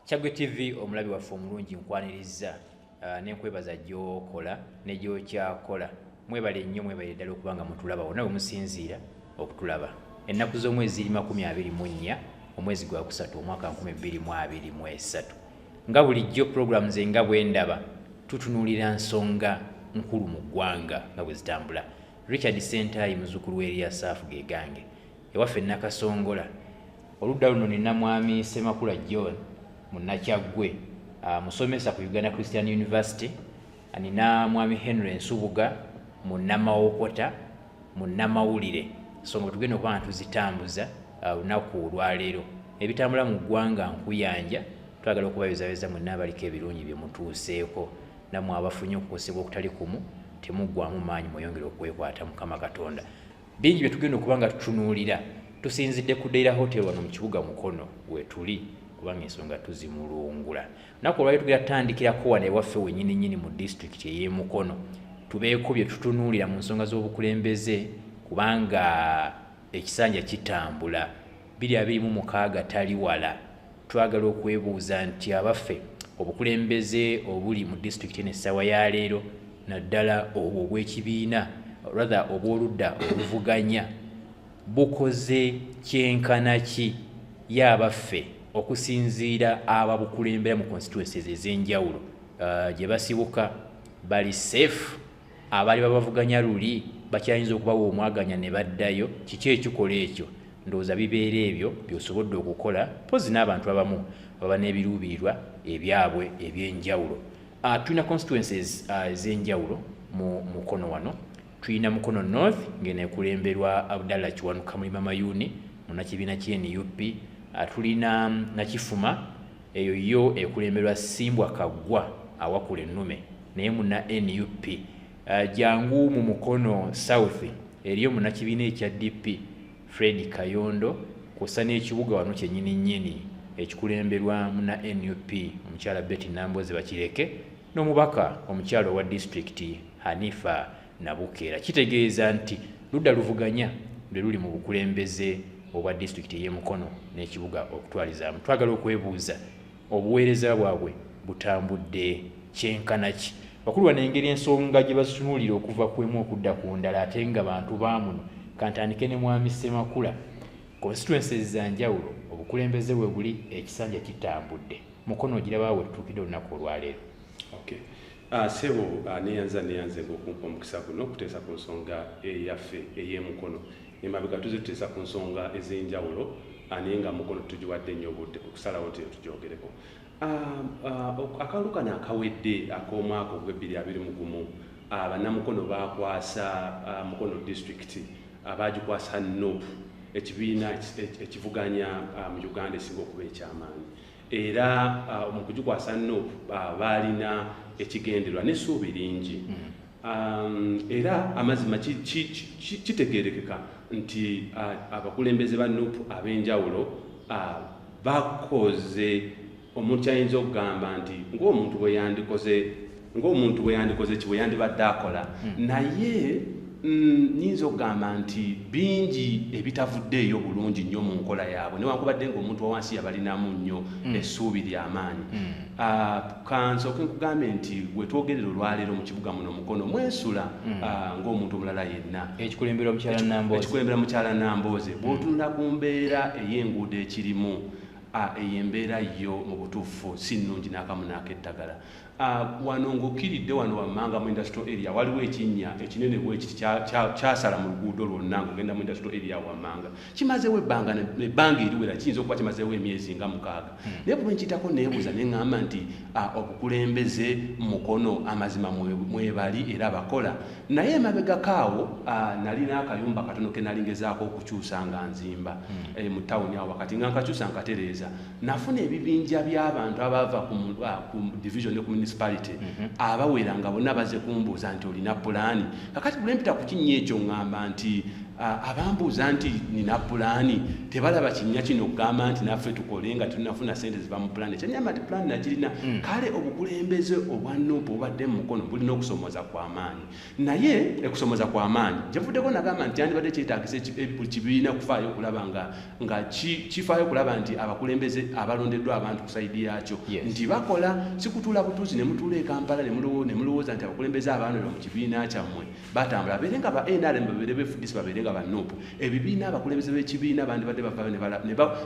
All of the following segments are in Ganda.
Kyagwe TV omulabi waffe omulungi nkwanirizza uh, nenkwebaza gyokola negyokyakola mwebale nnyo mwebale ddala okuba nga mutulaba wonna bwe musinziira okutulaba ennaku z'omwezi ziri makumi abiri mu nnya omwezi gwa kusatu omwaka nkumi bbiri mu abiri mu esatu nga bulijjo puroguramu ze nga bwe ndaba tutunuulira nsonga nkulu mu ggwanga nga bwe zitambula richard sentaayi muzuukulu w'eriasaafu ge gange ewaffe nakasongola oludda luno nina mwami semakula john munakyaggwe ah, musomesa ku uganda christian university nina mwami henry nsubuga munamawokota munamawulire so nga tugenda okuba nga tuzitambuza ah, olunaku olwaleero ebitambula mu ggwanga nkuyanja twagala okubayozayeza mwenna abaliko ebirungi byemutuuseeko namwe abafunye okukosebwa okutali kumu temuggwamu maanyi mweyongere okwekwata mukama katonda Bingi bye tugenda okuba nga tutunuulira tusinzidde ku Deira Hotel wano mu kibuga Mukono wetuli kubanga ensonga tuzimulungula. Naku olwali tugenda tutandikirako wano ewaffe wenyini nyini mu disitulikiti ey'e Mukono tubeeko bye tutunuulira mu nsonga z'obukulembeze kubanga ekisanja kitambula biri abiri mu mukaaga tali wala. Twagala okwebuuza nti abaffe obukulembeze obuli mu disitulikiti eno essaawa ya leero naddala obwo obw'ekibiina rather obw'oludda oluvuganya bukoze kyenkana ki ye abaffe okusinziira ababukulembera mu constituencies ez'enjawulo uh, gye basibuka bali safe abaali babavuganya luli bakyayinza okubawa omwaganya ne baddayo kiki ekikola ekyo ndowooza bibeera ebyo byosobodde okukola mpozi n'abantu abamu baba n'ebiruubirirwa ebyabwe ebyenjawulo ah, tulina constituences ah, ez'enjawulo mu mukono wano tulina mukono north ngeneekulemberwa abdalla kiwanuka mulima mayuni munakibiina kyenup ah, tulina nakifuma Eyo yo ekulemberwa Simbwa Kaggwa awakula ennume naye muna nup uh, eh, jangu mu mukono south eriyo munakibiina ekya dp fred kayondo kwossa n'ekibuga wano kyenyini nyini ekikulemberwa muna nup omukyala betty nambozi bakireke n'omubaka omukyala owa disitulikiti hanifa nabukeera kitegeeza nti ludda luvuganya lwe luli mu bukulembeze obwa disitulikiti ey'emukono n'ekibuga okutwalizaamu twagala okwebuuza obuweereza bwabwe butambudde kyenkana ki bakulu bano engeri ensonga gye bazitunuulira okuva ku emu okudda ku ndala ate nga bantu baamuno kantandike ne mwami ssemakula konsituensi ezanjawulo obukulembeze we buli ekisanja kitambudde mukono ogiraba wetutuukidde olunaku olwaleero Ah, sebo ah, neyanza neyanze ngokumpa omukisa guno okuteesa ku nsonga eyaffe eyemukono emabega tuze tuteesa ku nsonga ezenjawulo ah, naye nga mukono tugiwadde nnyo obudde okusalawo nti etugyogereko akalulu kano akawedde akomwaka ogwebbiri abiri mugumu banamukono bakwasa mukono disitulikiti abagikwasa nup ekibiina ekivuganya mu uganda esinga okuba ekyamaanyi era uh, mu kugikwasa nup uh, baalina ekigenderwa n'essuubi lingi mm. um, era amazima kitegeerekeka nti uh, abakulembeze ba nup ab'enjawulo bakoze omuntu ayinza okugamba nti ng'omuntu bwe yandikoze ng'omuntu bwe yandikoze ki bwe yandibadde akola hmm. naye mm, nyinza okugamba nti bingi ebitavuddeeyo bulungi nnyo mu nkola yaabwe newankubadde ngaomuntu wawansi yabalinamu nnyo hmm. essuubi lyamaanyi hmm. ah, kansooke nkugambe nti wetwogerera olwaleero mu kibuga muno mukono mwensula ah, ng'omuntu omulala yenna ekikulembera mukyala nambooze bwotunula ku mbeera ey'enguudo ekirimu ah, eyo embeera yo mu butuufu si nnungi n'akamu n'akeddagala Uh, wano ng'okkiridde wano wammanga mu industrial area waliwo ekinnya ekinene bwekiti kyasala mu luguudo lwonna ng'ogenda mu industrial area wammanga kimazeewo ebbanga ebbanga eriwera kiyinza okuba kimazeewo emyezi nga mukaaga hmm. naye bwe nkitako neebuuza ne ŋŋamba nti uh, obukulembeze mukono amazima mwebali era bakola naye emabegako awo uh, nalina akayumba katono ke nalingezaako okukyusa nga nzimba hmm. eh, mu tawuni awo wakati nga nkakyusa nkatereeza nafuna ebibinja by'abantu abaava ku ah, division ne ku municipality mhm. abawera nga bonna baze kumbuuza nti olina pulaani kakati bulempita ku kinnya ekyo ŋŋamba nti ah, abambuuza nti nina pulaani tebalaba kinnya kino okugamba nti naffe tukole nga tunafuna sente ziva mu pulaani ekyanyamba nti pulaani nakirina mm. kale obukulembeze obwa nuupu obadde mu mukono bulina okusoomoza kw'amaanyi naye ekusomoza kwa maanyi gyevuddeko nagamba nti kyandibadde kyetagisa buli kibiina kufaayo okulaba nga nga kifaayo okulaba nti abakulembeze abalondeddwa abantu kusaidi yaakyo nti bakola sikutuula butuuzi ne mutuula e kampala ne mulowooza nti abakulembeze abaanula mu kibiina kyammwe batambula babeere nga ba nrm babeere befudisi babeere nga banuupu ebibiina abakulembeze b'ekibiina bandibadde bavayo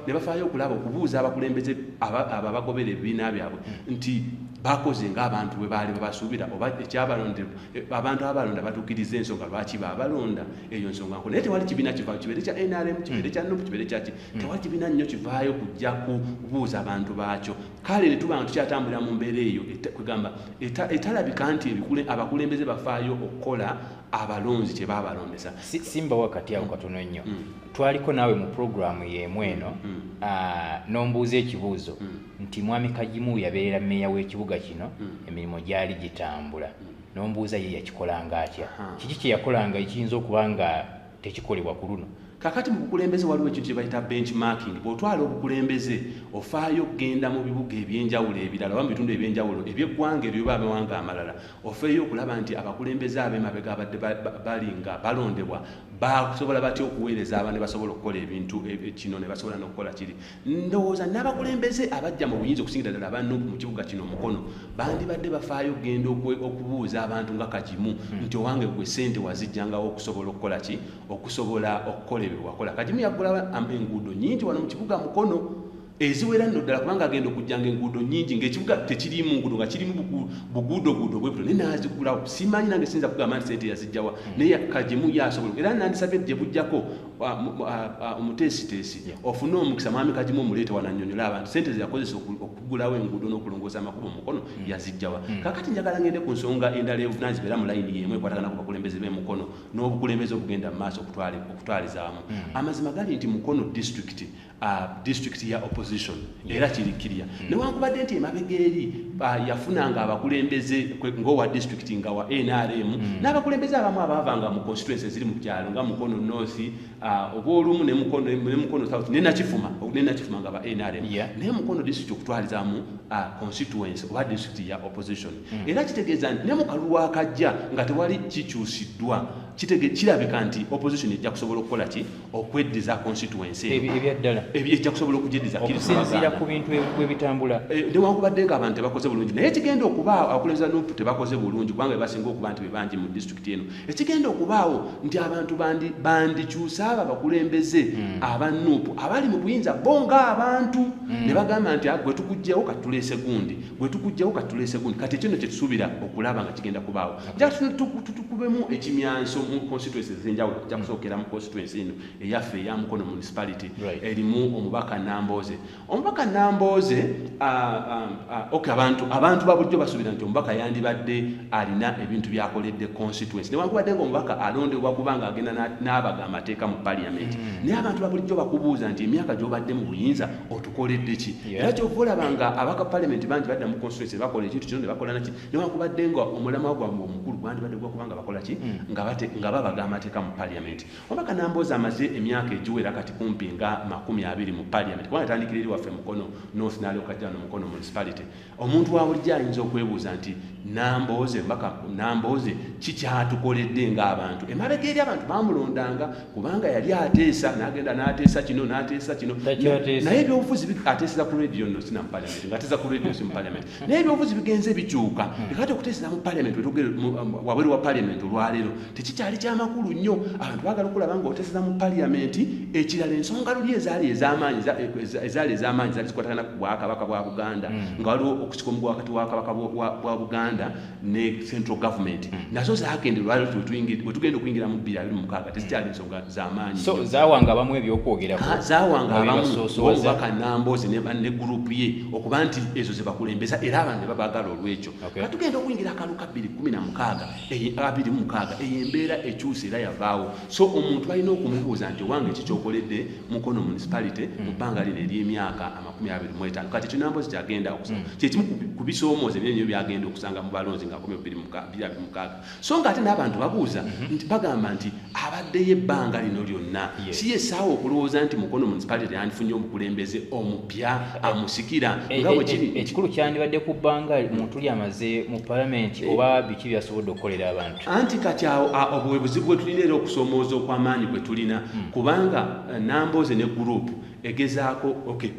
ne bafaayo okulaba okubuuza abakulembeze abo abagobera ebibiina byabwe nti bakoze ngaabantu bwe baali babasuubira oba ekyabalonderwa eh, abantu abalonda batuukiriza ensonga lwaki babalonda eyo nsonga nko naye tewali kibiina kivaayo kibeere kya nrm kibeere kya nup kibeere kyaki hmm. tewali kibiina nnyo kivaayo kujja kubuuza abantu baakyo kale ne tuba nga tukyatambulira mu mbeera eyo kwegamba etalabika nti abakulembeze bafaayo okukola abalonzi tebabalondesa simba wakati awo katono nnyo mm. twaliko naawe mu puroguramu yeemu eno mm. mm. ah, nombuuza ekibuuzo mm. nti mwami kajimu yabeerera meeya w'ekibuga kino mm. emirimu gyali gitambula mm. nombuuza ye yakikolanga atya kiki kyeyakolanga ekiyinza okuba nga tekikolebwa ku luno kakati mu bukulembeze waliwo ekintu kye bayita benchmarking bw'otwala obukulembeze ofaayo okugenda mu bibuga ebyenjawulo ebirala oba mu bitundu ebyenjawulo ebyeggwanga ebyo oba amawanga amalala ofeeyo okulaba nti abakulembeze ab'emabega abadde bali nga balondebwa basobola batya okuweereza aba ne basobola okukola ebintu e, e, kino ne basobola n'okukola kiri ndowooza n'abakulembeze abajja mu buyinza okusingira ddala aba nup mu kibuga kino omukono bandibadde bafaayo okugenda okubuuza abantu nga kagimu hmm. nti owange gwe sente wazijjangawo okusobola okukola ki okusobola okukola ebyo wakola kagimu yaggula enguudo nyingi wano mu kibuga mukono eziwera nno ddala kubanga agenda okujjanga enguudo nyingi ngaekibuga tekirimu nguudo nga kirimu buguudoguudo bwebuto naye nazigulawo simanyi nange siyinza kugamba nti sente yazijjawa hmm. naye kagimu yasobola era nandisabye gyebujjako omuteesiteesi ofune omukisa mwami kagimu omuleete wananyonyola abantu sente zeyakozesa okugulawo enguudo n'okulongoosa amakubo mukono hmm. yazijjawa hmm. kakati njagala ngende ku nsonga endala evunanyizibwa era mu layini yemu ekwatagana ku bakulembeze b'emukono n'obukulembeze okugenda mu maaso okutwalizawamu hmm. amazima gali nti mukono disitulikiti Uh, district ya opposition yeah. era kiri kirya mm. newankubadde nti emabega eri uh, yafunanga abakulembeze ngaowa district nga wa nrm mm. n'abakulembeze abamu abaavanga mu constituency eziri mu byalo nga mukono north uh, oba olumu nemukono south nenakifuma nenakifuma nga ba nrm yeah. naye mukono district okutwalizamu uh, constituency oba district ya opposition mm. era kitegeeza nti ne mu kalulu akajja nga tewali kikyusiddwa kirabika nti opposition ejja kusobola okukola ki okweddiza constituency ebyaddala ejja kusobola okugyeddiza okusinziira ku bintu webitambula eh, newankubadde nga abantu tebakoze bulungi naye ekigenda okubaawo abakulembeza nup tebakoze bulungi kubanga bebasinga okuba nti bebangi mu disitulikiti eno ekigenda okubaawo nti abantu bandikyusa abo abakulembeze hmm. aba nup abali mu buyinza bo nga abantu hmm. ne bagamba nti ah, gwe tukugjawo katuleese gundi gwe tukugjawo katuleese gundi kati ekyo no kyetusuubira okulaba nga kigenda kubaawo just tutukubemu ekimyanso mu constituency ezenjawulo ja kusookera mu constituency eno eyaffe eya mukono municipality erimu omubaka nambooze omubaka nambooze ok abantu abantu babulijjo basuubira nti omubaka yandibadde alina ebintu byakoledde constituency newankubadde nga omubaka alondebwa kubanga agenda n'abaga amateeka mu parliament mm. naye abantu babulijjo bakubuuza nti emyaka gyobadde mu buyinza otukoledde ki era kyova olaba nga abaka parliament bangi badda mu constituency bakola ekintu kino ne bakola naki newankubadde nga omulamwa gwammwe omukulu gwandibadde gwakuba nga bakola ki mm. nga babaga amateeka mu paliament omubaka namboozi amaze emyaka egiwera kati kumpi nga makumi abiri mu paliament kubanga atandikira eri waffe mukono north naliokajjano mukono municipality omuntu wabulijjo ayinza okwebuuza nti nambooze omubaka nambooze kikyatukoledde ngaabantu emabega eri abantu bamulondanga kubanga yali ateesa nagenda nateesa kino nateesa kino naye ebyobufuzi ateeseza ku radio no sina mu paliament nga ateesa ku radio si mu paliament naye ebyobufuzi bigenze bikyuka hmm. ekati okuteesera mu paliament um, wabweru wa paliament olwaleero tekikyali kyamakulu nnyo abantu bagala okulaba nga oteeseza mu paliament ekirala ensonga luli ezaali ezamaanyi e, e, ezaali ezamaanyi zaali zikwatagana ku bwakabaka bwa buganda hmm. nga waliwo okusika omugu wakati wakabaka bwa buganda ne central government hmm. nazo zagende lwaleero wetugenda okuyingira mu bbiri abiri mukaaga tezikyali zamaanyi so zawanga abamu ebyokwogerako ah, zawanga abamu obubaka namboozi ne gurupu ye okuba nti ezo zebakulembeza era abantu ne babagala olwekyo nga tugenda okuyingira akalu ka bbiri kumi na mukaaga abiri mu mukaaga eyo embeera ekyusa era yavaawo so omuntu balina okumubuuza nti owange ki kyokoledde mukono municipality mu mm. bbanga lino ery'emyaka amakumi abiri mu etaano kati ekyo namboozi kyagenda okusanga mm. kyekimu ku bisoomooza ebyenyo byagenda okusanga mu balonzi nga kumi bbiri abiri mukaaga so nga ate n'abantu babuuza mhm. nti bagamba nti abaddeyo ebbanga lino lyonna si yesaawa okulowooza nti mukono municipality teyandifunye omukulembeze omupya eh, amusikira eh, nga eh, bwekiri ekikulu kyandibadde ku bbanga muntu lyamaze mu palamenti oba biki byasobodde okukolera abantu anti kati awo obwebuzibu bwe tulina era okusomooza okw'amaanyi bwe tulina hmm. kubanga nambooze ne gurupu egezaako okay,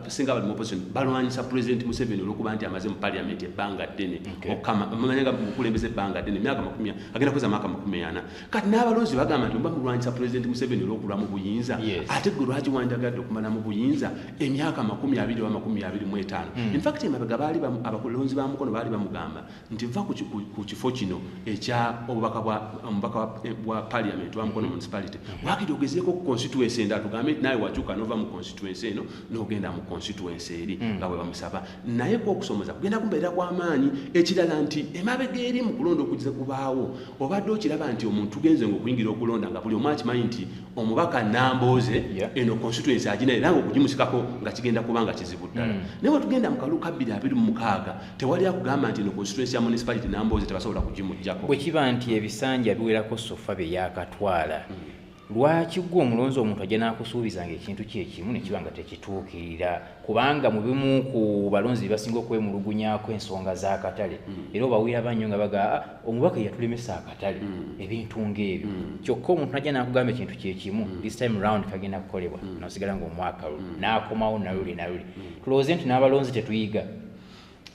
singa bali mu opposition balwanyisa president museveni olwokuba nti amaze mu parliament ebbanga ddene okamamanya nga mukulembeza ebbanga ddene myaka makumi agenda kuweza myaka makumi ana kati n'abalonzi bagamba nti oba mulwanyisa president museveni olwokulwa mu buyinza ate gwe lwaki wanjagadde okumala mu buyinza emyaka makumi abiri oba makumi abiri mu etaano hmm. infact emabega baali abakulonzi ba mukono baali bamugamba nti vva ku kifo kino ekya obubaka bwa eh, parliament wa mukono municipality wakiri ogezeeko ku constituency enda tugambe nti naye wakyuka nova mu constituency eno nogenda mu constituency eri hmm. nga bwebamusaba naye kwokusomoza kugenda kumbeera kwamaanyi ekirala nti emabega eri mu kulonda okugize kubaawo obadde okiraba nti omuntu tugenze nga okuyingira okulonda nga buli omu akimanyi nti omubaka nambooze eno constituency agina era nga okugimusikako nga kigenda kuba nga kizibu ddala hmm. naye wetugenda mu kalu kabbiri abiri mu mukaaga tewali akugamba nti no constituency ya municipality namboozi tebasobola kugimujjako bwe kiba nti ebisanja biwerako sofa bye yakatwala hmm. lwaki gwe omulonzi omuntu ajja n'akusuubiza nga ekintu kyekimu ne kiba nga tekituukirira kubanga mu bimu ku balonzi be basinga okwemulugunyako ensonga z'akatale hmm. era obawulira bannyo nga baga ah, omubaka yatulemesa akatale hmm. ebintu ng'ebyo kyokka omuntu najja n'akugamba ekintu kyekimu this time round kagenda kukolebwa nosigala ng'omwaka lu n'akomawo naluli naluli tulowooze nti n'abalonzi tetuyiga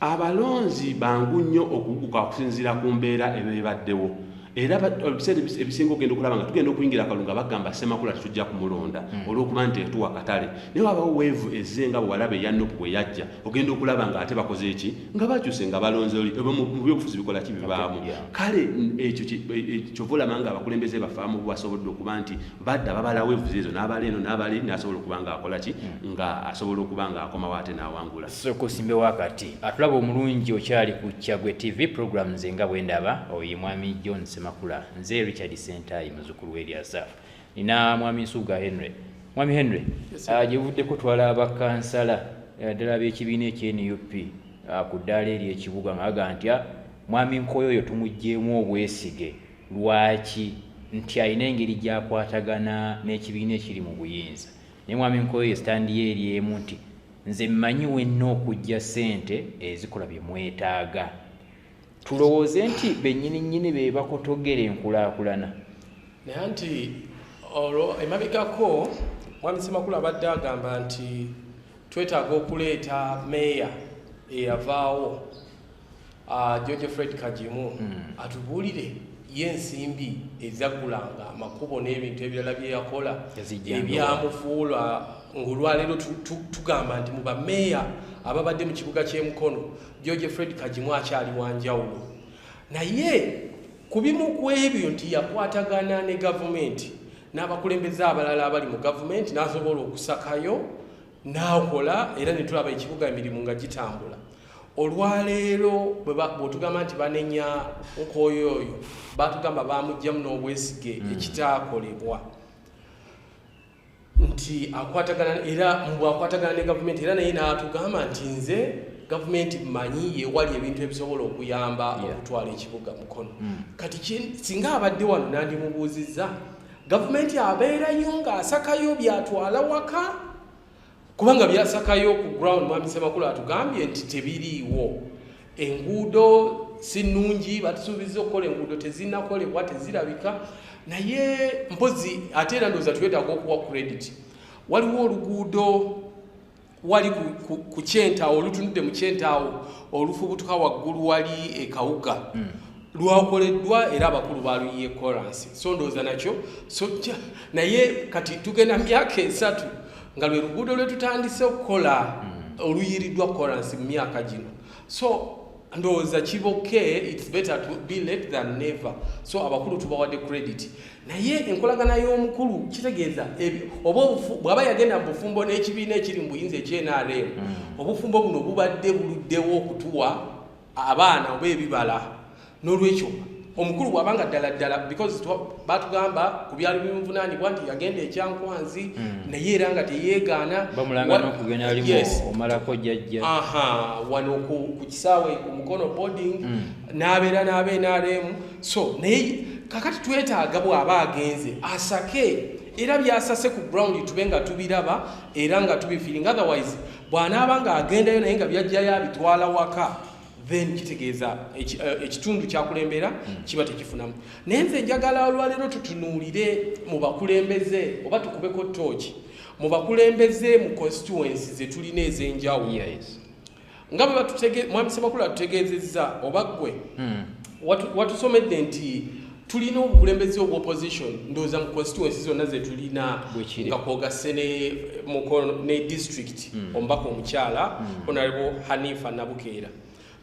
abalonzi bangu nnyo okuguka okusinziira ku mbeera eba ebaddewo era ebiseera ebisinga ogenda okulaba nga tugenda okuyingira akalungu nga bagamba semakula tetujja kumulonda hmm. olwokuba nti etuwa katale naye wabawo weevu ezze nga bwewalaba eyanupu bwe yajja ogenda okulaba nga ate bakoze eki nga bakyuse nga balonze oli mu byobufuzi bikola ki bibaamu kale ekyo e, kyova olaba nga abakulembeze bafaamu basobodde okuba nti badda babala weevu zeezo n'abala eno n'abala eri nasobola okuba nga akola ki hmm. nga asobola okuba nga akomawo ate n'awangula Sooka osimbewo akati. Atulaba omulungi okyali ku Kyaggwe TV program nze nga bwe ndaba oyo ye mwami John Ssemakula nze Richard Ssentaayi muzzukulu w'Eryazaaf nina mwami Nsubuga Henry mwami Henry ah, gye buvuddeko twala bakansala eh, ddala ab'ekibiina ekye nup ah, ku ddaala eri ekibuga nga baga ntya ah, mwami Nkoyo oyo tumuggyeemu obwesige lwaki nti alina engeri gyakwatagana n'ekibiina ekiri mu buyinza naye mwami Nkoyo ye sitandiyo eri emu nti nze mmanyi wenna okujja ssente ezikola bye mwetaaga tulowooze nti bennyini nnyini be bakotogera enkulaakulana naye nti olwo emabegako mwami semakulu abadde agamba nti twetaaga okuleeta meeya eyavaawo Ah, George Fred Kajimu hmm. atubuulire ye ensimbi ezaggulanga amakubo n'ebintu ebirala bye yakola ebyamufuula ng'olwaleero tugamba nti mu bameeya ababadde mu kibuga ky'e Mukono George Fred Kajimu akyali wa njawulo naye ku bimu ku ebyo nti yakwatagana ne gavumenti n'abakulembeze abalala abali mu gavumenti n'asobola okusakayo n'akola era ne tulaba ekibuga emirimu nga gitambula olwaleero bwetugamba nti banenya nkooyo oyo batugamba bamugjamu n'obwesige hmm. ekitaakolebwa nti akwatagana era mbwakwatagana ne gavumenti era naye n'atugamba nti nze gavumenti manyi yewali ebintu ebisobola okuyamba okutwala ekibuga mukono hmm. kati singa abadde wano nandimubuuzizza gavumenti abeerayo ng'asakayo byatwala waka kubanga byasakayo ku ground mwami semakulu atugambye nti tebiriiwo enguudo si nnungi batusuubiza okukola enguudo tezinakolebwa tezirabika naye mpozi ate era ndooza twetaaga okuwa credit waliwo oluguudo wali ku kyentaawo olutunudde mu kyentaawo olufubutuka waggulu wali ekawuga hmm. lwakoleddwa era abakulu baluyiye kolansi so ndowooza nakyo sojja naye kati tugenda myaka esatu nga lwe luguudo lwe tutandise okukola hmm. oluyiriddwa kolansi mu myaka gino so ndowooza kiboke its better to be late than never so abakulu tubawadde credit naye enkolagana y'omukulu kitegeeza oba bwaba yagenda mu bufumbo n'ekibiina ekiri mu buyinza ekyenrm mm. obufumbo buno bubadde buluddewo okutuwa abaana oba ebibala n'olwekyo omukulu bwaba nga ddala ddala because batugamba ku byali bimuvunaanibwa nti yagenda ekyankwanzi hmm. naye era nga teyeegaana wano ku kisaawe ku mukono boarding hmm. n'abeera n'aba nrm so naye kakati twetaaga bw'aba agenze asake era byasase ku ground tube nga tubiraba era nga tubifiringa otherwise bw'anaaba ng'agendayo naye nga byajjayo abitwala waka then kitegeeza eh, ekitundu kyakulembera hmm. kiba tekifunamu naye nze njagala olwaleero tutunuulire mu bakulembeze oba tukubeko tooki mu bakulembeze mu constituency zetulina ez'enjawulo nga bwe batutegeeza mwami semakulu atutegeezezza oba ggwe hmm. watusomedde nti tulina obukulembeze obwa opposition ndowooza mu constituency zonna zetulina nga kwogase ne mukono ne district mm. omubaka omukyala mm. onalebo hanifa nabukeera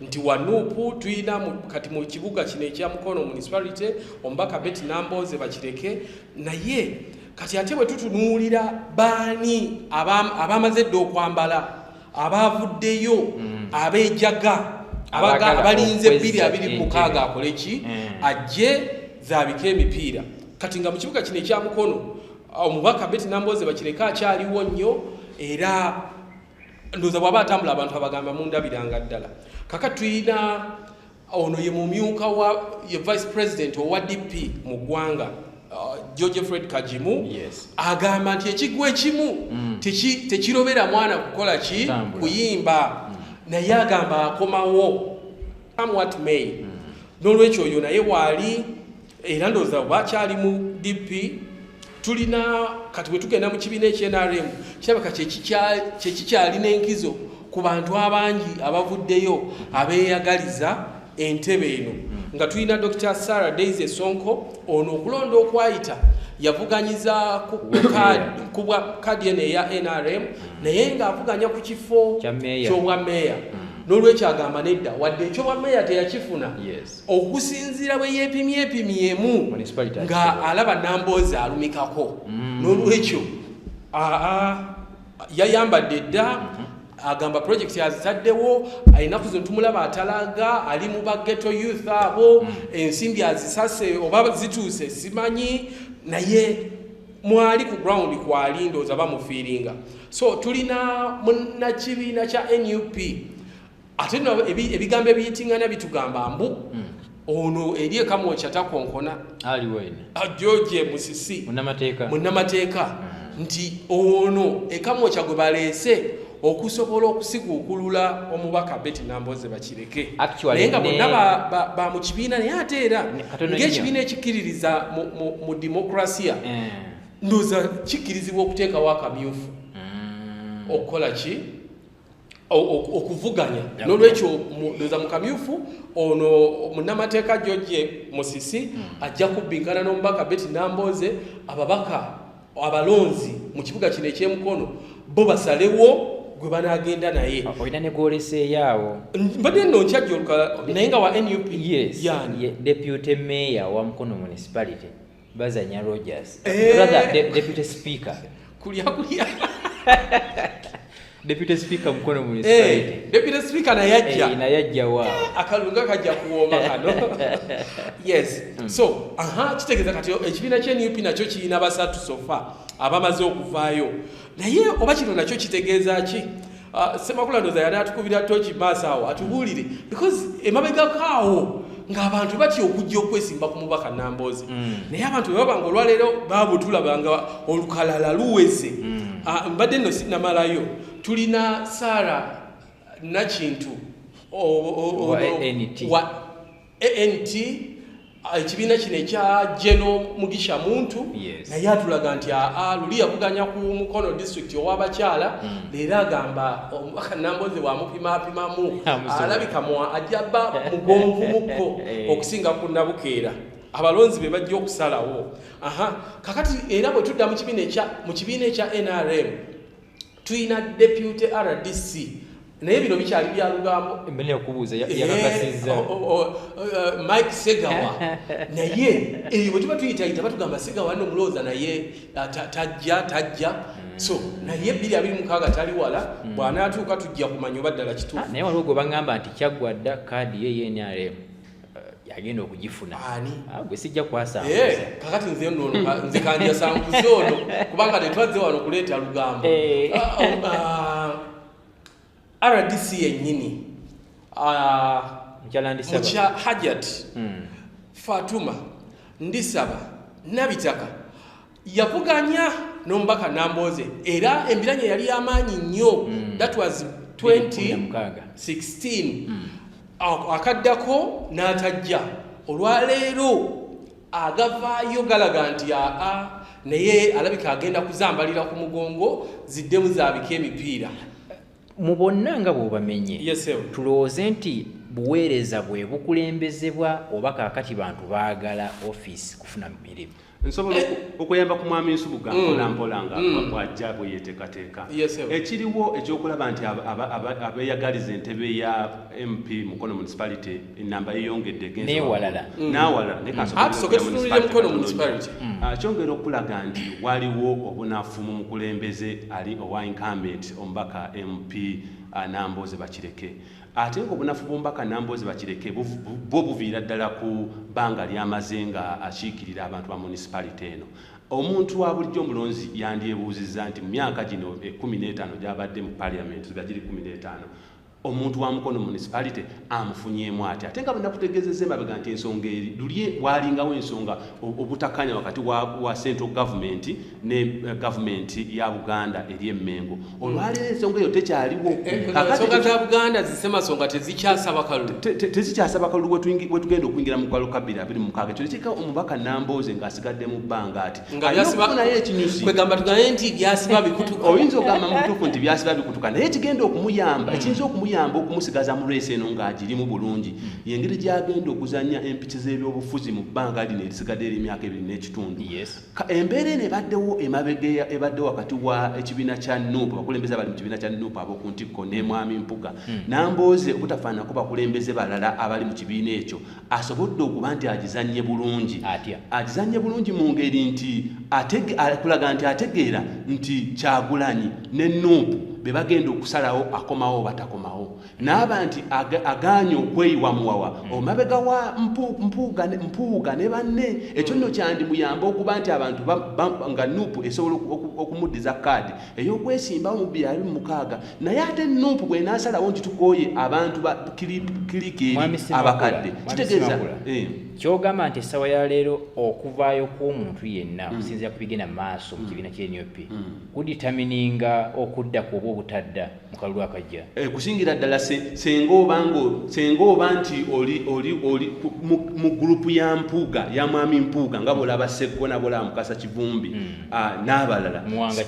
nti wanupu tulina kati mu kibuga kino ekya mukono municipality omubaka beti namboze bakireke naye kati ate bwe tutunuulira baani abamaze dda okwambala abaavuddeyo mm. abejaga abalinze bbiri abiri mukaaga akole ki mm. ajje zaabike emipiira kati nga mu kibuga kino ekya mukono omubaka beti nambooze bakireka akyaliwo nnyo era ndoza bwaba atambula abantu abagamba mundabiranga ddala kaka tuyina Ono ye mumyuka wa ye vice president owa DP mu ggwanga uh, George Fred Kajimu yes. agamba nti ekigwa ekimu mm. tekirobera teki mwana kukola ki Tambula. kuyimba mm. naye agamba akomawo come what may mm. n'olwekyo oyo naye waali era ndowooza oba kyali mu dp tulina kati bwe tugenda mu kibiina ekyenrm kirabika kyekikyali n'enkizo ku bantu abangi abavuddeyo abeeyagaliza entebe eno hmm. nga tulina dr sarah days esonko ono okulonda okwayita yavuganyiza ku bwa kadi eno eya nrm naye ng'avuganya ku kifo ky'obwa meeya hmm. n'olwekyo agamba nedda wadde ekyobwa meeya teyakifuna okusinziira bwe yeepimyepimyemu nga alaba namboozi alumikako mm. n'olwekyo yayambadde dda mm-hmm. agamba project azitaddewo enaku zino tumulaba atalaga ali mu bageto youth abo mm. ensimbi azisase oba zituuse simanyi naye mwali ku ground kwali ndooza bamufiiringa so tulina munakibiina kya nup ate no ebigambo ebiyitingana bitugamba mbu hmm. ono eri ekamwokya takonkona ajoje musisi munamateeka hmm. nti ono ekamwokya gwe baleese okusobola okusiguukulula omubaka beti namboze bakireke naye nga bonna ba mu kibiina naye ate era ngaekibiina ekikkiririza mu demokrasiya eh. ndoza kikkirizibwa okuteekawo akamyufu hmm. okukola ki okuvuganya nolwekyo ndoza mukamyufu ono munamateeka george musisi hmm. ajja kubbinkana n'omubaka beti namboze ababaka abalonzi mu kibuga kino ekyemukono bo basalewo gwe banagenda naye ah, olina negwoleseeyaawo mbadde no nkyajja oluka naye nga wa nup yes, yeah. deputy mayor wa mukono municipality bazanya Rogers eh. brother de, deputy speaker kulia kulia deputy speaker mkono muli hey, eh, deputy speaker na yajja hey, eh, na yajja wa akalunga kaja kuoma kano yes mm. so aha kitegeza kati ekibina kye NUP nakyo kiina basatu sofa abamaze okuvayo naye oba kino nakyo kitegeeza ki ah, semakula ndoza yali atukubira toki maaso awo atubuulire because emabegako awo ng'abantu batya okujja okwesimba ku mubaka namboozi mm. naye abantu bebaba nga olwaleero babutulaba nga olukalala luweze mm. ah, mbadde nno sinamalayo tulina saara nakintu wa ANT ah, ekibiina kino ekya Geno Mugisha Muntu naye atulaga nti aa ah, ah, luli yavuganya ku Mukono district ow'abakyala hmm. leero agamba omubaka Nambooze bw'amupimapimamu alabika mwa ajja ba mugonvu mukko eh. okusinga ku Nabukeera abalonzi be bajja okusalawo aha kakati era bwe tudda mu kibiina ekya mu kibiina ekya NRM tulina deputy rdc naye bino bikyali bya lugambo mbele okubuuza yakakasiza eh, oh, oh, oh, uh, mike segawa naye eyo bwe tuba tuyitayita batugamba segawa no mulooza naye uh, tajja tajja hmm. so naye biri abiri mukaaga tali wala hmm. bwanaatuuka tujja kumanya oba ddala kituufu ah, naye waliwo gwe bagamba nti kyaggwa dda kaadi ye yenrm agenda okugifuna ani ah, gwe sijja kwasanga eh, kakati nze nno hmm. nze kanja sanguze ono kubanga tetwazze wano kuleeta lugambo eh. ah, oh, ah, rdc yennyini mukya hajat hmm. fatuma ndisaba nabitaka yavuganya n'omubaka Nambooze era embiranye yali y'amaanyi nnyo mm. that was 2016 mm. akaddako n'atajja olwaleero agavaayo galaga nti aa naye alabika agenda kuzambalira ku mugongo ziddemu zaabika emipiira mu bonna nga bw'obamenye yes, tulowooze nti buweereza bwe bukulembezebwa oba kaakati bantu baagala ofiisi kufuna mirimu nsobola eh. okuyamba ku mwami nsubuga mm. mpolampola nga mm. bwajja bwe yeteekateeka ekiriwo ekyokulaba nti abeyagaliza entebe ya mp mukono municipality enamba yeyongedde nawalala mm. ah, kyongera okulaga nti waliwo obunafu mu mukulembeze ali owa incumbent omubaka mp ah, namboze bakireke Ate ng'obunafu bw'omubaka Nambooze Bakireke bwo buviira ddala ku bbanga ly'amaze nga akiikirira abantu ba munisipalite eno. Omuntu wa bulijjo omulonzi yandyebuuzizza nti mu myaka gino ekkumi n'etaano gy'abadde mu Parliament nga giri kkumi n'etaano omuntu wa Mukono municipality amufunyeemu ati ate nga bwenakutegeezezza emabega nti ensonga eri luli waalingawo ensonga obutakanya wakati wa central government ne eh, gavumenti ya buganda eri emengo olwaleero ensonga eyo tekyaliwo eh, eh, ensonga za buganda zisemasonga tezikyasaba kalulu tezikyasaba kalulu wetugenda okuyingira mu kwalo kabiri abiri mukaaga ekyo nekiika omubaka nambooze ngaasigadde mu bbanga ati alinaokufunayo ekinyusi kwegamba tugaye nti byasiba bikutuka oyinza ogamba mutuufu nti byasiba bikutuka naye ekigenda okumuyamba hmm. ekiyinza okumuyamba okumusigaza mu reesi eno ng'agirimu bulungi hmm. yengeri gyagenda okuzanya empiki z'ebyobufuzi mu bbanga lino erisigadde eri emyaka ebiri n'ekitundu Embeera eno ebaddewo emabega ebadde wakati wa ekibiina kya nup abakulembeze abali mu kibiina kya nup ab'oku ntikko ne mwami Mpuga hmm. nambooze obutafaananako bakulembeze balala abali mu kibiina ekyo asobodde okuba nti agizannye bulungi agizannye bulungi mu ngeri nti kulaga nti ategeera nti kyagulanyi ne nup be bagenda okusalawo akomawo batakomawo n'aba nti agaanye okweyiwa muwawa hmm. omabega wa mpuuga ne banne ekyo nno kyandimuyamba okuba nti abantu nga nuupu esobola okumuddiza kaadi ey'okwesimbawo mu byali mu mukaaga naye ate nuupu bw'enaasalawo nti tukooye abantu ba kilikieri abakadde kitegeeza eh. kyogamba nti essaawa ya leero okuvaayo kw'omuntu yenna hmm. okusinzira ku bigenda mu maaso mu hmm. kibiina kyenup kuditamininga okudda ku oba obutadda mu kalulu akajja eh, kusingira ddala senga obango senga oba nti oli oli oli mu gurupu ya mpuuga ya mwami mpuuga nga bolaba sekko na bolaba mukasa kivumbi mm. ah, n'abalala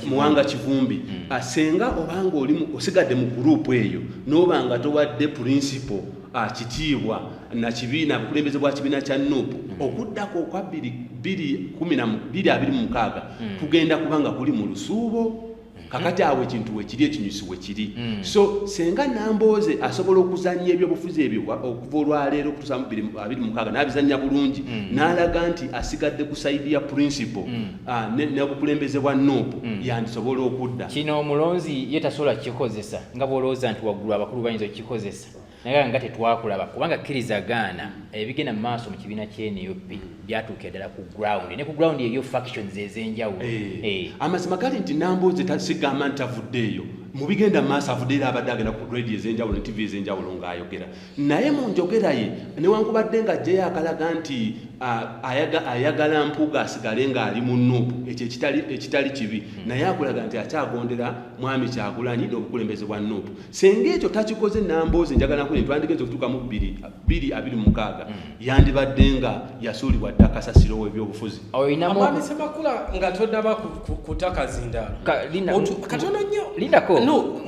muwanga kivumbi mm. ah, senga obanga oli osigadde mu gurupu eyo n'oba nga towadde purinsipo ah, kitiibwa na kibiina bukulembeze bwa kibiina kya nupu mm. okuddako okwa bbiri bbiri kumi na bbiri abiri mu mukaaga kugenda kubanga kuli mu lusuubo kakati awo ekintu wekiri ekinyusi wekiri hmm. so senga nambooze asobola okuzanya ebyobufuzi ebyo okuva olwaleero okutusa mubiri abiri mukaaga nabizanya bulungi hmm. nalaga nti asigadde ku saidi ya principle hmm. ah, nebukulembeze bwa nup yandisobola okudda kino omulonzi ye tasobola kukikozesa nga bwolowooza nti waggulu abakulu bayinza okukikozesa naye nga tetwakulaba kubanga kkiriza gaana ebigenda mu maaso mu kibiina kyenup byatuukira ddala ku ground ne ku ground eriyo factions ez'enjawulo eh. Eh. amazima gali nti namboozi tasigamba nti avuddeeyo mu bigenda mu maaso avudde era abadde agenda ku radio ez'enjawulo ne tv ez'enjawulo ng'ayogera naye mu njogera ye newankubadde nga jjeyo akalaga nti ayagala mpuuga asigale ng'ali mu nup ekyo ekitali kibi hmm. naye akulaga nti akyagondera mwami kyagulanyi n'obukulembeze bwa nup senga ekyo takikoze namboozi njagala kuli twandigenza okutuuka mu bbiri bbiri abiri mukaaga mm. yandibadde nga yasuulibwa dda kasasiro w'ebyobufuzi omwami semakula nga todaba kutaka zindalokatono nnyo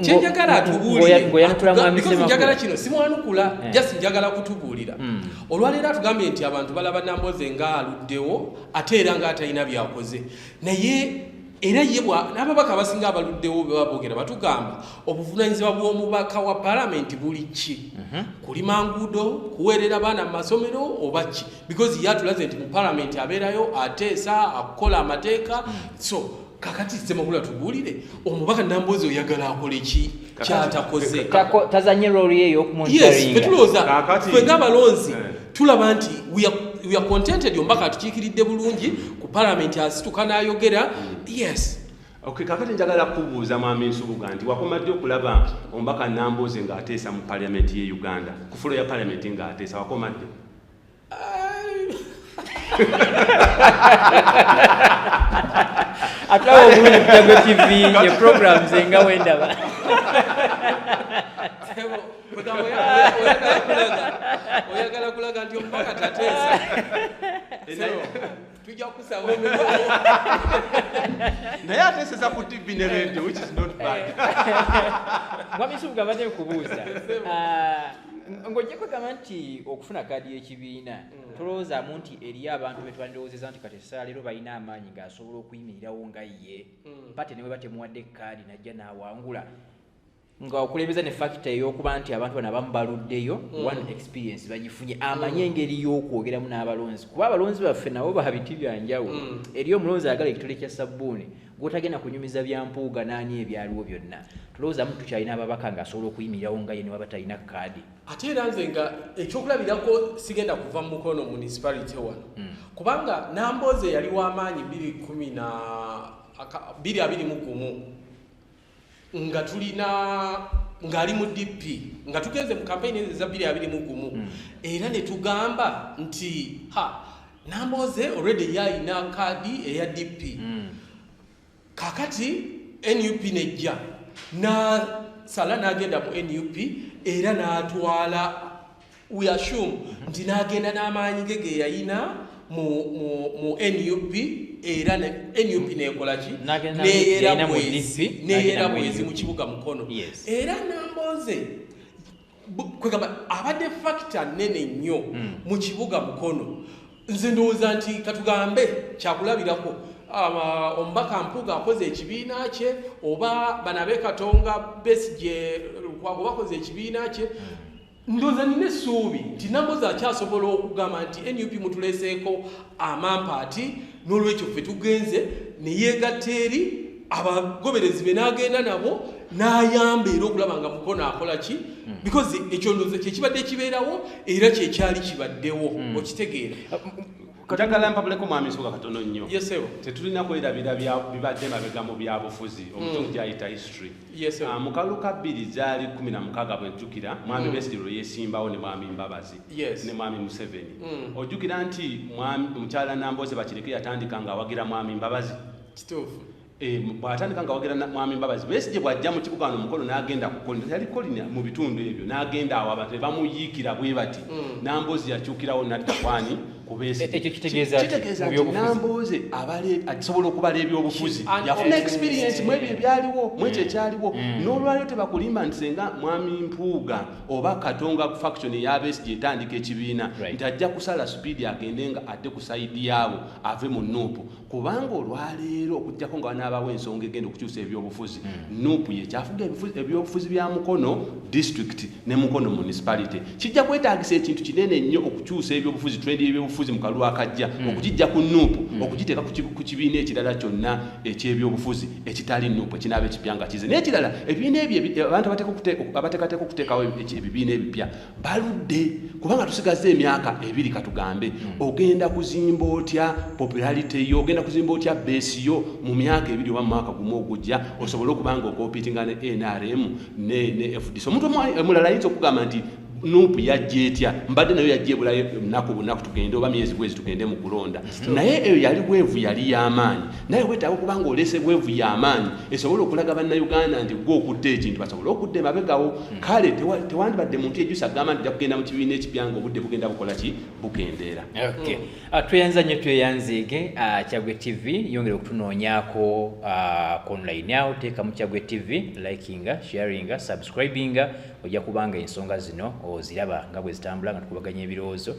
kyenjagala atubuulirenjagala kino simwanukula eh. jasi njagala kutubuulira mm. olwaleero atugambye nti abantu balaba namboozi nga aluddewo ate era nga atalina byakoze naye era ye n'ababaka abasinga abaluddewo bwe babogera batugamba obuvunaanyizibwa bw'omubaka wa palamenti buli ki mhm. kulima nguudo kuweerera baana mu masomero oba ki because ye atulaze nti mu palamenti abeerayo ateesa akukola amateeka mhm. so kakati ssemakula tubuulire omubaka namboozi oyagala akole ki kyatakoze tazanye role ye yokumunfwe ngabalonzi eh. tulaba nti we are contented ombaka atukiikiridde bulungi ku palamenti asituka nayogera yes Okay, kakati njagala kubuuza mwami Nsubuga nti wakoma ddi okulaba ombaka Nambooze ng'ateesa mu parliament ye Uganda ku fulo ya parliament ng'ateesa wakoma ddi ate awo obulungi kutago tv ye programs enga wendaba oyagala kulaga nti omubaka tateesa tujja kukusaba naye ateseza ku tv ne radio which is not bad mwami yusufu gabadde nkubuuza Ah, ng'ojja kwegamba nti okufuna kaadi y'ekibiina Mm. tolowoozaamu nti eriyo abantu be twandirowoozeza nti kati essala leero balina amaanyi ng'asobola okuyimirirawo nga ye Mm. pate ne bwe batemuwadde kaadi najja n'awangula nga okulembeza ne fakita ey'okuba nti abantu bano abamu baluddeyo mm. one experience bagifunye amanye mm. engeri y'okwogeramu n'abalonzi kuba abalonzi baffe nabo babiti byanjawulo mm. eri omulonzi agala ekitole kya sabbuuni gwotagenda kunyumiza bya mpuuga n'ani ebyaliwo byonna tulowoozamu tukyalina ababaka ng'asobola okuyimirirawo nga ye ne waba talina kaadi ate era nze nga ekyokulabirako sigenda kuva mu mukono municipality wano kubanga namboozi eyali w'amaanyi 2 2 1 nga tulina ng'ali mu dp nga tugenze mu kampeyini ezo eza bbiri abiri mu gumu hmm. era ne tugamba nti ha nambooze olwedde yalina kaadi eya dp hmm. kakati nup nejja nasala n'agenda mu nup era n'atwala we assume nti n'agenda n'amaanyi ge ge yalina mu nup era nup nekolaki neyera bwezi mu kibuga mukono era nambooze kwegamba abadde fakita nene nnyo hmm. mu kibuga mukono nze ndowooza nti katugambe kyakulabirako Ah, omubaka mpuga akoze ekibiina kye oba banabe katonga besije lukwago bakoze ekibiina kye Ndoza nina essuubi nti Nambozi akyasobola okugamba nti nup mutuleseeko amampaati n'olwekyo ffe tugenze ne yeegatta eri abagoberezi be n'agenda nabo n'ayamba era okulaba nga mukono akola ki hmm. because ekyo ndoza kyekibadde kibeerawo era kyekyali kibaddewo hmm. okitegeera njagala mpabuleko mwami nsoga katono nnyo tetulina kwerabira bibadde mabega mu byabufuzi mm. omutundu gyayita history ah, mu kalu ka bbiri zaali kumi na mukaaga bwejjukira mwami mm. besiri lwe yesimbawo ne mwami mbabazi ne mwami museveni mm. ojjukira nti mukyala namboze bakireke yatandika ng'awagira mwami mbabazi Eh, bwatandika nga wagera mwami mbabazi besigye bwajja mu kibuga wano mukolo n'agenda kukolina yali kolina mu bitundu ebyo n'agenda awo abantu bebamuyiikira bwe bati hmm. namboozi yakyukirawo nadda kwani kubesigyenambooze asobola okubala ebyobufuzi yafuna experience mwebyo ebyaliwo mwekyo hmm. ekyaliwo hmm. n'olwaliro tebakulimba nti senga mwami mpuuga oba katonga faction eyabesigye etandika ekibiina nti ajja kusala supiidi agende nga adde ku saidi yaabo ave mu nuupu kubanga olwaleero okujjako nga wanaabawo ensonga egenda okukyusa ebyobufuzi hmm. nup yekyafuga ebyobufuzi bya mukono district ne mukono municipality kijja kwetagisa ekintu kinene nnyo okukyusa ebyobufuzi trend yebyobufuzi mu kalulu akajja hmm. okugijja ku nup hmm. okugiteeka ku kibiina ekirala kyonna ekyebyobufuzi ekitali nup ekinaaba ekipya nga kize naye ekirala ebibiina ebyo abantu abateekateeka okuteekawo ebibiina ebipya baludde kubanga tusigaza emyaka ebiri katugambe hmm. ogenda kuzimba otya popularity yo ogenda kuzimba otya base yo mu myaka ebiri oba mumwaka gumu ogujja osobole okuba nga okopitinga ne nrm ne, ne fdc omuntu omulala ayinza okugamba nti nupu yajja etya mbadde nayo yajja ebulayo lunaku bunaku tugende oba myezi bwezi tugende mu kulonda naye eyo yali bwevu yali yamaanyi naye wetaaga okuba nga oleese bwevu yamaanyi esobole okulaga bannayuganda nti gwe okutta ekintu basobole okudda emabegawo hmm. kale tewandibadde muntu ejusa agamba nti jakugenda mu kibiina ekipya nga obudde bugenda bukola ki bukendeera hmm. ah, tweyanza nnyo tweyanziige ah, kyagwe tv yongere okutunoonyako ah, ku online awo teeka mu kyagwe tv likinga sharinga subscribinga ojja kubanga ensonga zino oziraba nga bwe zitambula nga tukubaganya ebirowoozo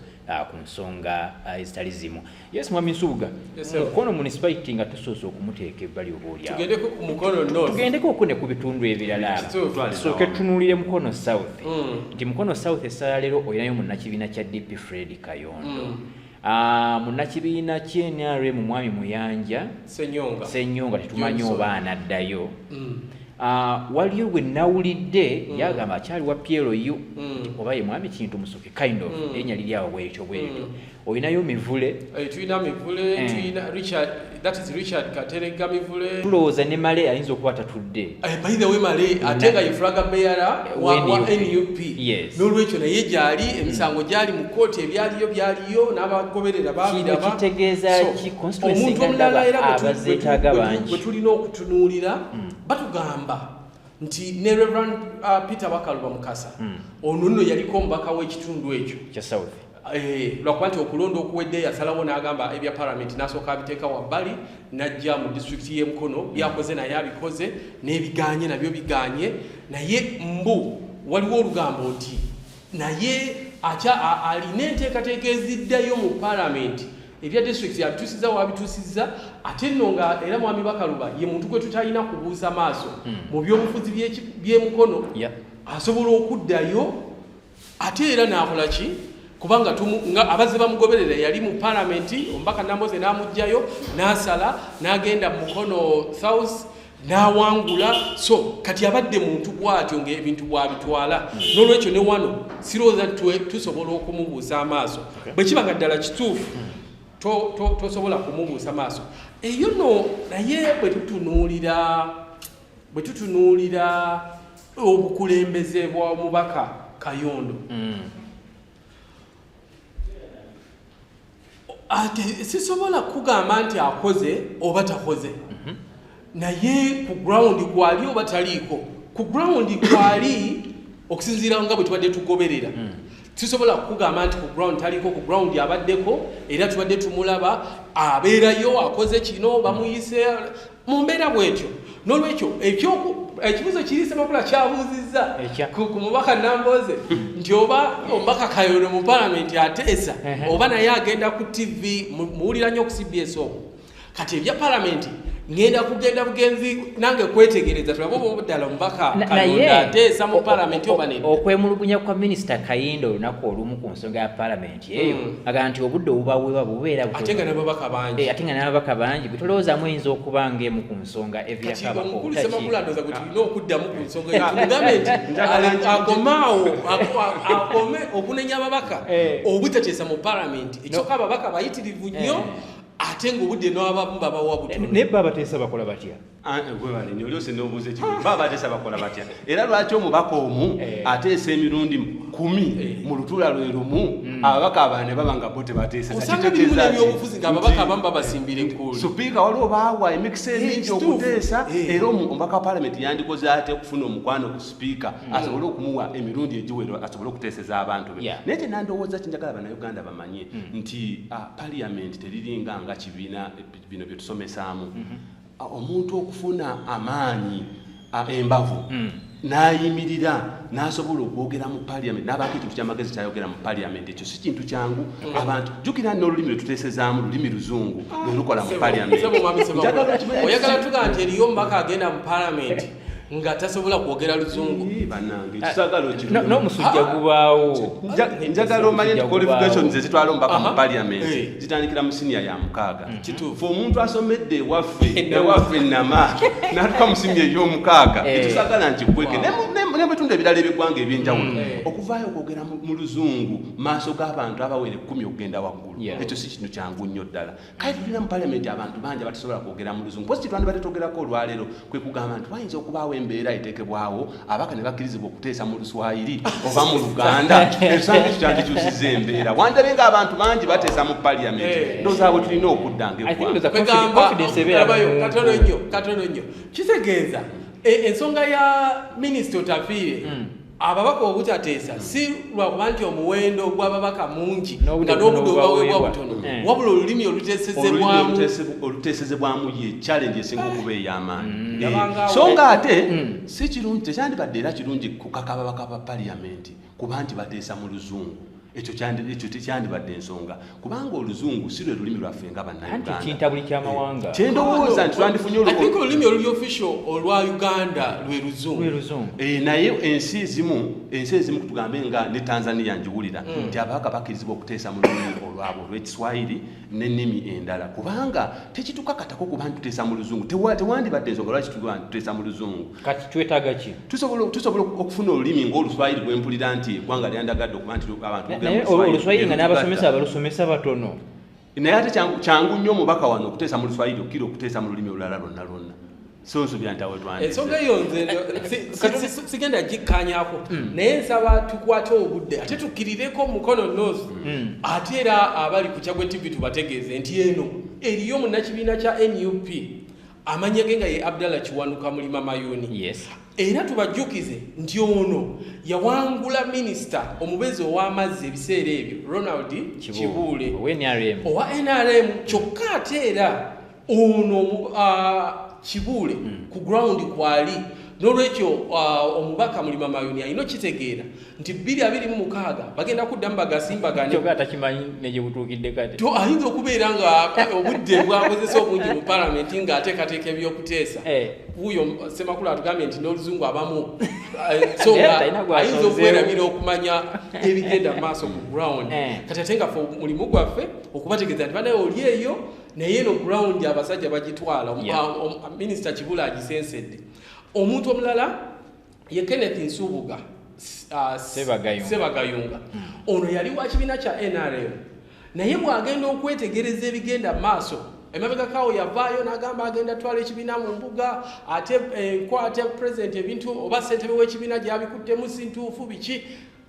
ku nsonga ezitali zimu Yes mwami Nsubuga. Yes, sir. Mukono municipality nga tusoose okumuteeka ebbali oba olyawo. Tugendeko ku Mukono North. Tugendeko oku ne ku bitundu ebirala. Tusooke tunuulire Mukono South. Mm. Nti Mukono South essala leero olinayo munnakibiina kya DP Fred Kayondo. Mm. Uh, munnakibiina ky'NRM mwami Muyanja Senyonga, Senyonga tetumanyi oba anaddayo. Mm. Ah, waliyo gwe nawulidde mm. yagamba akyali wa plu mm. oba ye mwami kintu musoke kind of mm. erinnya liri awo bwekyo bwekyo olinayo mivule eh, tulina mivule eh. tulina richard that is richard katerega mivule tulowooza ne male ayinza okuba tatudde eh, by the way male ate nga yefulaga meyara wa nup n'olwekyo naye gyali hmm. emisango gyali mu kkooti ebyaliyo byaliyo n'abagoberera babirabaomuntu omulala era bwe tulina okutunuulira hmm. batugamba nti ne reverend uh, peter bakaluba mukasa hmm. ono nno yaliko omubaka w'ekitundu ekyo Eh, lwakuba nti okulonda okuwedde yasalawo n'agamba ebya paramenti n'asooka abiteeka wabbali n'ajja mu disitulikiti y'e mukono byakoze naye abikoze n'ebiganye nabyo biganye naye mbu waliwo olugambo nti naye akya alina enteekateeka eziddayo mu paramenti ebya disitulikiti abituusiza wabituusiza ate nno nga era mwami bakaluba ye muntu gwe tutalina kubuuza maaso hmm. mu byobufuzi by'e mukono asobola okuddayo ate era n'akola ki kubanga nga abazze bamugoberera yali mu palamenti omubaka namboze n'amugjayo n'asala n'agenda mu mukono south n'awangula so kati abadde muntu bwatyo ngaebintu bwabitwala n'olwekyo ne wano sirowooza tusobola okumubuusa amaaso bwe kiba nga ddala kituufu tosobola kumubuusa maaso eyo no naye bwe tutunuulira Bwe tutunuulira obukulembeze bwa mubaka Kayondo mm. ate sisobola kugamba nti akoze oba takoze mm -hmm. naye ku ground kwali oba taliiko ku ground kwali okusinziira nga bwe tubadde tugoberera mm. sisobola kukugamba nti ku ground taliko ku ground abaddeko era tubadde tumulaba abeerayo akoze kino bamuyise mu mbeera bwetyo nolwekyo ekibuzo kiri semakula kyabuuzizza ku mubaka namboze nti oba omubaka kayono mu palamenti ateesa oba naye agenda ku tv muwulira nyo ku cbs oku kati ebya palamenti ngenda kugenda bugenzi nange kwetegereza tulabe oba obudala omubaka kayondo ateesa mu palamenti oba nedda okwemulugunya kwa minisita kayindo olunaku olumu ku nsonga ya palamenti eyo mm. agamba nti obudde obubaweebwa bubeera eh, ate nga nababaka bangi ate nga nababaka bangi bwe tolowoozamu eyinza okuba nga emu ku nsonga evirakabakokatiomukulusemakuladoza gwe tulina okuddamu ku nsonga eyomugambe nti akomaawo akome okunenya ababaka eh. obutateesa mu palamenti ekyoka ababaka bayitirivu nnyo eh. ate ngaobudde nabababawabut naye babateesa bakola batya Ah, eh, webale nyo lyose nobuuza ekibuzo baba bateesa bakola batya era lwaki omubaka omu eh. ateesa emirundi kumi eh. mu lutula lwe lumu hmm. ababaka abane baba nga bo tebateesabyobufuzi nga ababaka abamu babasimbira enkulu supiika waliwo baawa emikisa emingi okuteesa era omubaka wa palamenti yandikoze ate okufuna omukwano ku supiika hmm. asobole okumuwa emirundi egiwero asobole okuteeseza abantu be naye kye nandowooza kinjagala banauganda bamanye hmm. nti ah, paliyamenti teriringa nga kibiina bino byetusomesaamu mm-hmm. omuntu okufuna amaanyi embavu hmm. nayimirira nasobola okwogera mu paliament nabaako ekintu kyamagezi kyayogera mu paliament ekyo si kintu kyangu hmm. abantu jukira nolulimi lwetutesezaamu lulimi luzungu lwelukola mu paliament oyagala tuga nti eriyo omubaka agenda mu paliament nga tasobola kwogera luzungu n'omusujja gubaawo njagala omanye nti qualifications ezitwala omubaka mu parliament zitandikira mu siniya ya mukaaga fe omuntu asomedde ewaffe ewaffe nama natuka mu siniya ey'omukaaga etusagala nti kweke nebitundu ebirala ebigwanga ebyenjawulo okuvaayo okwogera mu luzungu maaso g'abantu abawere kumi okugenda waggulu ekyo si kintu kyangu nnyo ddala kale tulina mu palamenti abantu bangi abatasobola kwogera mu luzungu posi kyetwandibadde twogerako olwaleero kwe kugamba nti wayinza okubaawo embeera eteekebwawo abaka ne bakkirizibwa okuteesa mu luswayiri oba mu luganda ekisango ekyo kyandikyusiza embeera wandabe nga abantu bangi bateesa mu paliyamenti eh. ndozaabwe tulina okudda ngaekatono nnyo katono nnyo kitegeeza e, ensonga ya minisita otafiire hmm. ababaka obutateesa hmm. si lwakuba nti omuwendo gw'ababaka mungi nga n'obudde obaweebwa butono hmm. Hmm. wabula olulimi oluteesezebwamu ye challenge esinga okuba ey'amaanyi eh, so nga ate si kirungi tekyandibadde era kirungi kukaka ababaka ba paliyamenti kuba nti bateesa mu luzungu ekyo tekyandibadde ensonga kubanga oluzungu si lwe lulimi lwaffe nga bannayugandakyendowooza nti twandifunye olulimi oluli official olwa uganda lwe luzungu eh, naye ensi ezimu ensi ezimu kutugambe nga ne tanzania njiwulira hmm. nti ababaka bakirizibwa okuteesa mu lulimi olwabwe olwekiswahiri n'ennimi endala kubanga tekitukakatako kuba ntutesa mu luzungu tewandibadde ensonga lwaki tutesa mu luzungu kati twetaaga ki tusobola okufuna olulimi ng'oluswayiri gwempulira nti eggwanga lyandagadde okuba nti abantu oluswayiri nga n'abasomesa abalusomesa batono naye ate kyangu nnyo omubaka wano okuteesa mu luswayiri okukira okuteesa mu lulimi olulala lwonna lwonna sunsu byantawetwani ensonga eyo nze sigenda gikkanyako hmm. naye nsaba tukwate obudde ate tukkirireko mukono nosi hmm. ate era abali ku kyagwe tv tubategeeze nti eno eriyo munakibiina kya nup amanya ge nga ye abdallah kiwanuka mulima mayuni era tubajjukize nti ono yawangula minisita omubeezi ow'amazzi ebiseera ebyo ronald kibuule owa nrm kyokka ate era ono uh, kibuule mm. ku ground kwali nolwekyo uh, omubaka mulima mayuni alina okitegeera nti bbiri abiri mu mukaaga bagenda kuddamu bagasimbaganeatakimanyinejebutuukiddeato ayinza okubeera nga uh, obudde bwakozesa obungi mu palamenti nga atekateeka ebyokuteesa eh. wuyo semakulu atugambye nti n'oluzungu abamu uh, so nga ayinza okwerabira okumanya ebigenda mu maaso ku ground eh. kati ate nga fe mulimu gwaffe okubategeeza nti banaye oli eyo naye eno ground abasajja bagitwala minisita kibula agisensedde omuntu omulala ye kenneth nsubuga uh, sebagayunga hmm. ono yali wa kibiina kya nrm naye bwagenda okwetegereza ebigenda maaso emabegakawo yavaayo nagamba agenda twala ekibiina mu mbuga ate enkwate eh, president ebintu oba sentebe w'ekibiina gyabikuttemu sintuufu biki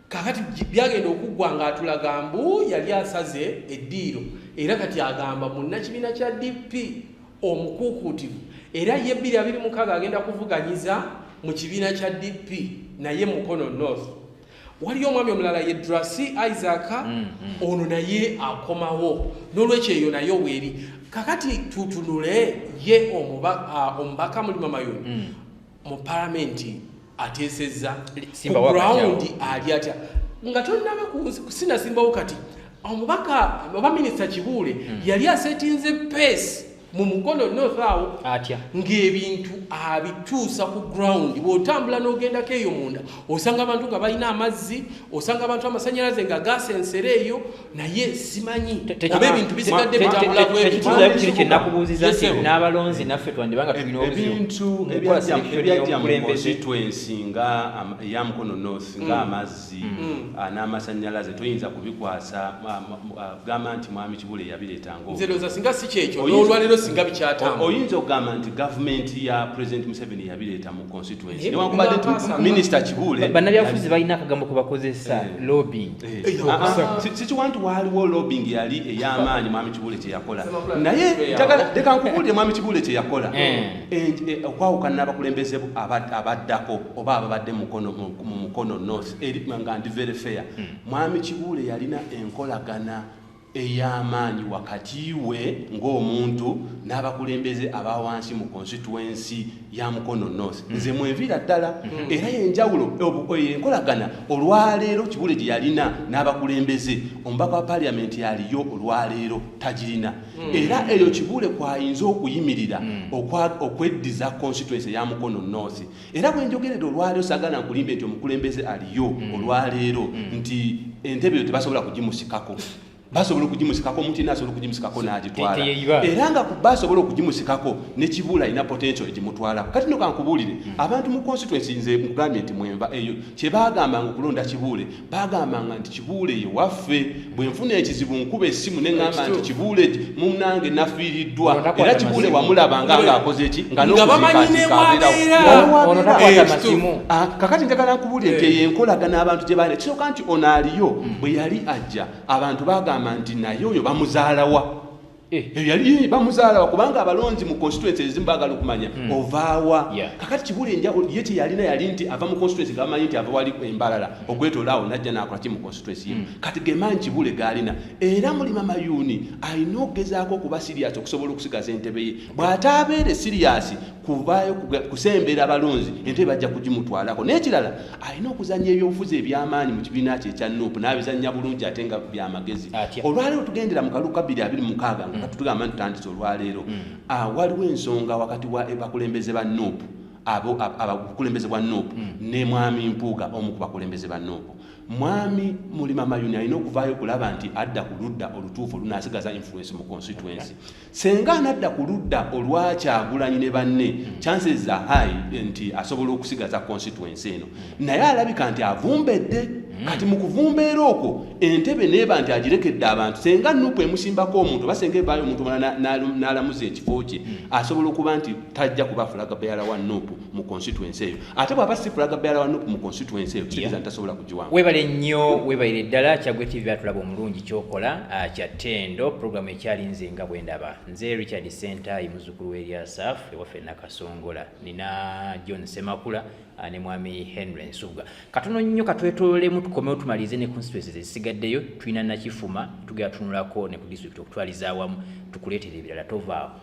kakati byagenda okuggwa ng'atulaga mbu yali asaze eddiiro era kati agamba munnakibiina kya dp omukuukuutivu era ye 226 agenda kuvuganyiza mu kibiina kya dp naye mukono north waliyo omwami omulala ye drasi isaac mm, mm. ono naye akomawo n'olwekyo eyo naye oweeri kakati tutunule ye omubaka mulima mayoni mm. mu palamenti ateesezza ku gurawundi ali atya nga tonnaba sinasimbawo kati omubaka oba minisita kibuule hmm. yali asetinze peesi mu mukono north awo atya ng'ebintu abituusa ku ground bw'otambula n'ogendako eyo munda osanga abantu nga balina amazzi osanga abantu amasanyalaze nga gaasa ensere eyo naye simanyi oba ebintu bisigadde bitambulakiri kyenakubuuziza nti n'abalonzi naffe twandibanga tulina ebintu ebyajja mukozi twensi nga eya mukono north mm. nga amazzi mm. mm. ah, n'amasanyalaze toyinza kubikwasa ah, ah, gamba nti mwami kibula eyabireetangaoza singa si kyekyo n'olwalero singa bikyatambula oyinza okugamba nti gavumenti ya president museveni yabireetamu constituency newankubadde minisita kibuule bannabyabufuzi balina akagambo kubakozesa eh. lobbying eh. Eh, ah, ah. sikiwa nti waaliwo lobbying yali ey'amaanyi mwami kibuule kyeyakola naye leka nkubuulire mwami kibuule kyeyakola okwawukana n'abakulembeze abaddako oba ababadde mu mukono north nga ndi very fair hmm. mwami kibuule yalina enkolagana ey'amaanyi wakati we ng'omuntu n'abakulembeze aba wansi mu konsituwensi ya mukono north hmm. nze mwenviira ddala hmm. era yenjawulo enkolagana olwaleero kibule gye yalina n'abakulembeze omubaka wa paliamenti yaliyo olwaleero tagirina hmm. era eyo kibule kwayinza okuyimirira okweddiza konsituwensi eya mukono north era bwenjogerera olwaleero sagala nkulimbe nti omukulembeze aliyo mm. olwaleero mm. nti entebe yo tebasobola kugimusikako basobola okugimusikako omuntu yena asobola okugimusikako n'agitwala era nga kuba asobola okugimusikako nekibuula alina potential egimutwalako kati no kankubuulire hmm. abantu mu constituency nze nkugambye nti mwenva eyo kyebagambanga okulonda kibuule bagambanga nti kibuule ye waffe bwe nfuna ekizibu nkuba essimu ne ŋŋamba nti kibuule munnange nafiiriddwa era kibuule wamulabanga ng'akoze eki nga nokuzikaakakati njagala nkubuulire nti eyo enkolagana abantu gye baali kisoka nti ono aliyo bwe yali ajja abantu bagamba nti naye oyo bamuzaalawa Eh. Eh, yali bamuzaalawa kubanga abalonzi mu constituency ezimu bagala okumanya hmm. ovaawa kakati kibula enjawulo ye kyeyalina yali nti ava mu constituency gamanyi nti ava wali embalala ogwetolaawo najja nakola ki mu constituency ye hmm. kati gemanyi kibule gaalina era mulima mayuuni alina okugezaako okuba siriyasi okusobola okusigaza entebe ye bw'ataabeere siriyasi kuvaayo kusembera abalonzi entebe bajja kugimutwalako n'ekirala alina okuzanya ebyobufuzi ebyamaanyi mu kibiina kye ekya nup n'abizanya bulungi ate nga byamagezi olwaleero tugendera mu kalu kabiri abiri mukaaga nga mm. tutugamba nti tutandise olwaleero mm. ah, waliwo ensonga wakati wa bakulembeze ba nup abakulembeze bwa nup mm. ne mwami mpuuga omu ku bakulembeze ba nup mwami mulima mayuni alina okuvaayo okulaba nti adda ku ludda olutuufu olunasigaza influence mu constituency Senga anadda ku ludda olwa Kyagulanyi ne banne hmm. chances za high nti asobola okusigaza constituency eno hmm. naye alabika nti avumbedde hmm. kati mu kuvumbeera okwo entebe neeba nti agirekedde abantu senga nupu emusimbako omuntu basenga evaayo omuntu mala n'alamuza ekifo kye asobola okuba nti tajja kuba fulaga beyala wa nupu mu constituency eyo ate bwaba si fulaga bearer wa nup mu constituency eyo kitegeeza nti tasobola kugiwamu webale nnyo webalire ddala kyagwe tv atulaba omulungi kyokola ah, kya tendo programu ekyali nze nga bwe ndaba nze richard center ye muzzukulu w'eryasaf ewaffe nakasongola nina john semakula ah, ne mwami henry nsubuga katono nnyo katwetololemu tukomewo tumalirize ne constituency zezisigaddeyo tulina nakifuma tugera tunulako ne ku district okutwaliza awamu tukuleetera ebirala tovaawo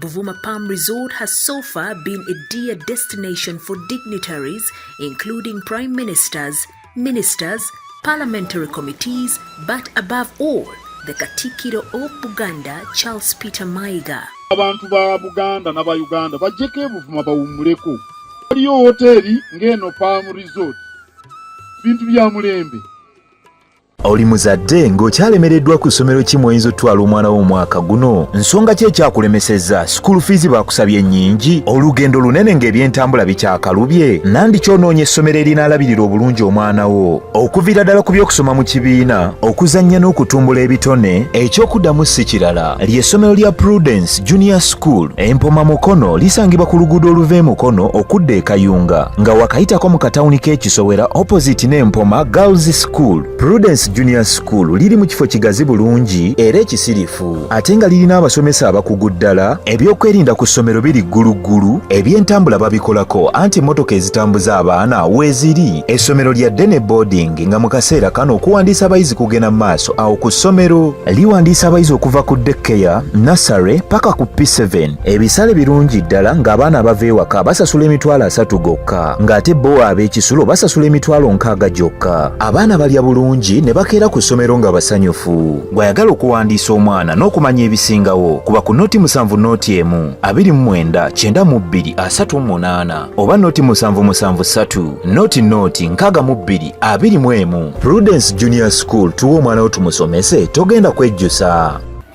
Buvuma Palm Resort has so far been a dear destination for dignitaries, including prime ministers, ministers, parliamentary committees, but above all, the Katikiro of Buganda, Charles Peter Maiga. abantu ba buganda naba uganda bajjeko ebuvuma bawummuleko waliyo woteeri ng'eno palm resort bintu bya mulembe oli muzadde ng'okyalemereddwa ku ssomero ki mw'oyinza otutwala omwana wo omwaka guno nsonga ki ekyakulemesezza sikuulu fiizi baakusabye nnyingi olugendo lunene ng'ebyentambula bikyakalubye nandi kyonoonya essomero erinaalabirira obulungi omwana wo okuviira ddala ku by'okusoma mu kibiina okuzannya n'okutumbula ebitone eky'okuddamu si kirala ly'essomero lya prudence junior school empoma mukono lisangibwa ku luguudo oluva e mukono okudda e kayunga nga wakayitako mu katawuni k'ekisowera opposite n'empoma girls School, Prudence Junior School liri mu kifo kigazi bulungi era ekisirifu ate nga lirina abasomesa abakugu ddala. Ebyokwerinda ku ssomero biri gguluggulu, ebyentambula babikolako anti emmotoka ezitambuza abaana weeziri. Essomero lya Dene Boarding nga mu kaseera kano okuwandiisa abayizi kugenda mu maaso awo ku ssomero. Liwandiisa abayizi okuva ku daycare, nursery paka ku P7. Ebisale birungi ddala ng'abaana abava ewaka basasula emitwalo asatu gokka ng'ate bo ab'ekisulo basasula emitwalo nkaaga gyokka. Abaana balya bulungi ne bakeera ku ssomero nga basanyufu. Gw'ayagala okuwandiisa omwana n'okumanya ebisingawo kuba ku noti musanvu noti emu, abiri mu mwenda, kyenda mu bbiri, asatu mu munaana oba noti musanvu musanvu ssatu, noti noti nkaaga mu bbiri, abiri mu emu. Prudence Junior School tuwa omwana wo tumusomese togenda kwejjusa.